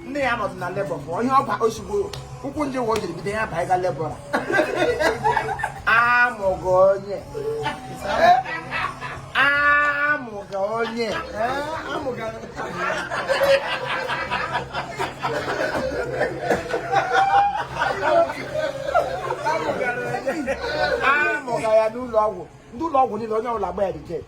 nne ya nọdụ na labor bụ onye ọba ozugbo ụkwụ ndị ụwa o jiri bido ya ba ịga labor amụga onye amụga onye amụga ya n'ụlọ ọgwụ ndị ụlọ ọgwụ niile onye ọbụla gba ya reject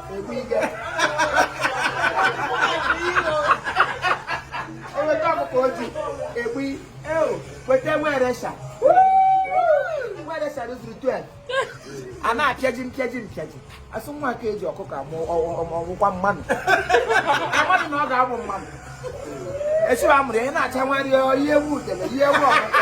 eweta ọkụkọ ojii egbu weta nwa eresha nwa eresha rụzuru 12 a na-apịaji mpịaji mpịaji asụ nwa ka eji ọkụkọ amụ ọgwụkwa mmanụ amadụ na ọ ga-abụ mmanụ echi a mụrụ ya na-acha nwa rie ihe ewu udele ihe ewu ọkụkọ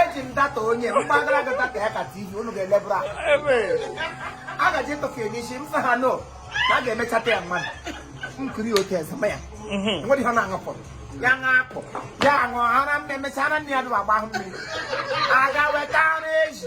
eji m data onye mgbagara gị data ya ka tv unu ga-elebụrụ a gaji ịtụfu ya n'isi m sị ha no na a ga-emechata ya mmadụ nkiri otu eze ma ya nwere ihe ọ na-aṅụpụ ya ṅapụ ya aṅụ ara m na-emecha ara nne ya dụrụ agbahụ mmiri aga weta ara ezi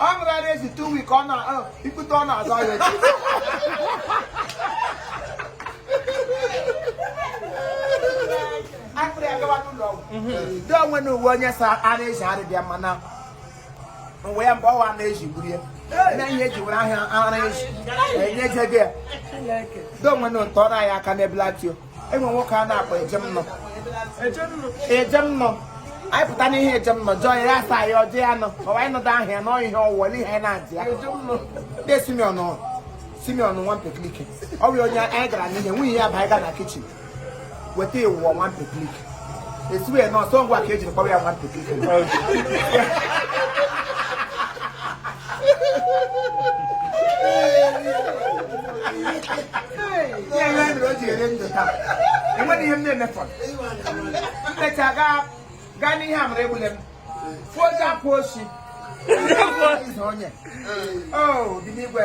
ọ ṅụrụ ara ezi two week ọ na ọ, ikpute ọ na-azụ ahịa echi. akpịrị ya gawa n'ụlọ ọgwụ dị onwe na uwe onye sa ara ezi ara dị ya mma na uwe ya mgbe ọwa ara ezi gburu ya na ihe eji were ahịa ara ezi enye je gị ya dị onwe na ụtọ ọrụ anyị aka n'ebelati o enwe nwoke a na-akpọ ejemnọ ejemnọ anyị pụta n'ihe ejemnọ jụọ ya ya asa ya ọjọọ ya nọ ọwa anyị nọdụ ahụ ya na ihe ọwụwa n'ihe anyị na-adị ya ndị simeon simeon nwa mpeklike ọ bụ onye anyị gara n'ihe nwunye ya banye ga na kitchen weta ịwụọ nwa mpeklike esiwe na ọsọ ngwa ka ejiri kpọrọ ya nwa mpeklike ya ihe mere o ji ere ndụ taa enweghị ihe m na-emefọrọ mmecha gaa gaa n'ihe amara egbule m fụọ ozi akwụ osi izu onye o dị n'igwe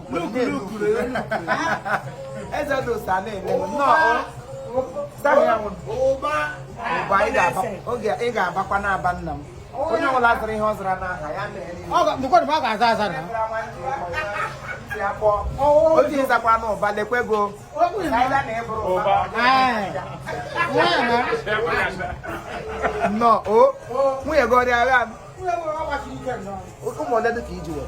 eze dị ụsa na-eme nnọọ ụba ị ga-abakwa n'aba nna m onye ọbụla zara ihe ọ zara n'aha ya ga-aza aza na oji ịzakwa n'ụba lekwe go nnọọ o nwunye gị ọ rị agha ụmụ ole dị ka iji were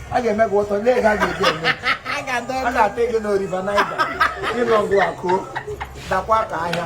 a ga-eme gị ụtọ lee ga ga-eji eme a ga-ata gị n'oriva naija ịnọgụ akụ dakwa ka ahịa